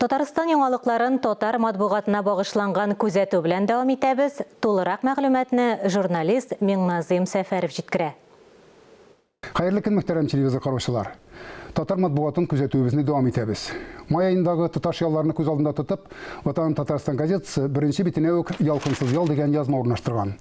Татарстан яңалыкларын татар матбугатына багышланган күзәтү белән дәвам итәбез, тулырак мәгълүматны журналист Миңназыйм Сәфәров җиткерә. Хәерле көн, мөхтәрәм телевизор караучылар! Татар матбугатын күзәтүебезне дәвам итәбез. Май аендагы тоташ ялларны күз алдында тотып, Ватаным Татарстан газетасы беренче битенә үк Ялкынсыз ял дигән язма урнаштырган.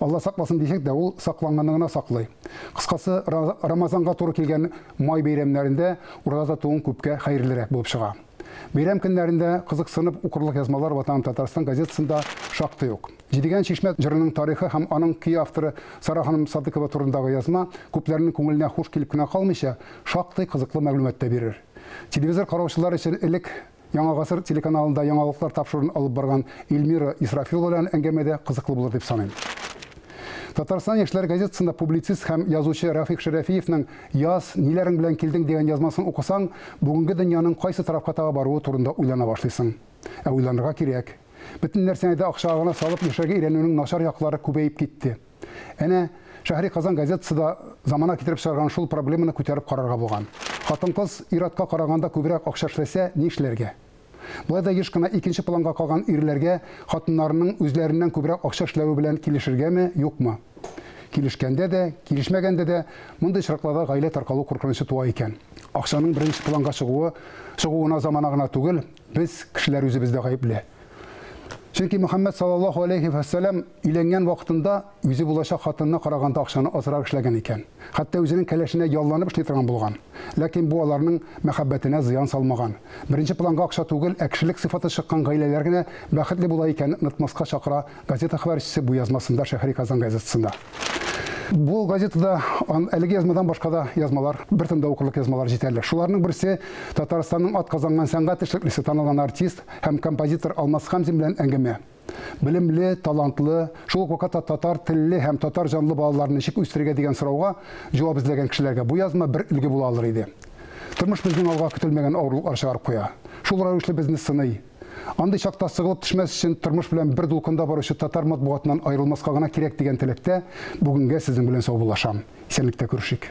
Алла сакласын дисәк дә, ул сакланганны гына саклый. Кыскасы, Рамазанга туры килгән май бәйрәмнәрендә ураза тотуың күпкә хәерлерәк булып чыга. Бәйрәм көннәрендә кызыксынып укырлык язмалар Ватаным Татарстан газетасында шактый ук. Җидегән чишмә җырының тарихы һәм аның көй авторы Сара ханым Садыкова турындагы язма күпләрнең күңеленә хуш килеп кенә калмыйча, шактый кызыклы мәгълүмат та бирер. Телевизор караучылар өчен элек Яңа гасыр телеканалында яңалыклар тапшырын алып барган Ильмира Исрафилова белән әңгәмә дә кызыклы булыр дип саныйм. Татарстан яшьләр газетасында публицист һәм язучы Рәфик Шәрәфиевның Яз, ниләрең белән килдең дигән язмасын укысаң, бүгенге дөньяның кайсы тарафка таба баруы турында уйлана башлыйсың. Ә уйланырга кирәк. Бөтен нәрсәне дә акчага гына салып яшәргә өйрәнүнең начар яклары күбәеп китте. Әнә, Шәһри Казан газетасы да замана китереп чыгарган шул проблеманы күтәреп карарга булган. Хатын-кыз ир-атка караганда күбрәк акча эшләсә, ни эшләргә? Болай да еш кына икенче планга калган ирләргә хатыннарының үзләреннән күбрәк акча эшләве белән килешергәме, юкмы? Килешкәндә дә, килешмәгәндә дә мондый очракларда гаилә таркалу куркынычы туа икән. Акчаның беренче планга чыгуы, чыгуына замана гына түгел, Без, кешеләр үзебез дә гаепле. Чөнки Мөхәммәд саллаллаһу алейһи вә сәлләм өйләнгән вакытында үзе булачак хатынына караганда акчаны азрак эшләгән икән. Хәтта үзенең кәләшенә ялланып эшли торган булган. Ләкин бу аларның мәхәббәтенә зыян салмаган. Беренче планга акча түгел, ә кешелек сыйфаты чыккан гаиләләр генә бәхетле була икәнен онытмаска чакыра Газета хәбәрчесе бу язмасында Шәһри Казан газетасында. Бу газетада әлеге язмадан башка да язмалар, бер тында укырлык язмалар җитәрлек. Шуларның берсе Татарстанның атказанган сәнгать эшлеклесе, танылган артист һәм композитор Алмаз Хәмзин белән әңгәмә. Белемле, талантлы, шул ук вакытта татар телле һәм татар җанлы балаларны ничек үстерергә дигән сорауга җавап эзләгән кешеләргә бу язма бер өлге була алыр иде. Тормыш безнең алга көтелмәгән авырлыклар чыгарып куя. Шул рәвешле безне сыный. Андый чакта сыгылып төшмәс өчен тормыш белән бер дулкында баручы татар матбугатыннан аерылмаска гына кирәк дигән теләктә бүгенгә сезнең белән саубуллашам. Исәнлектә күрешик.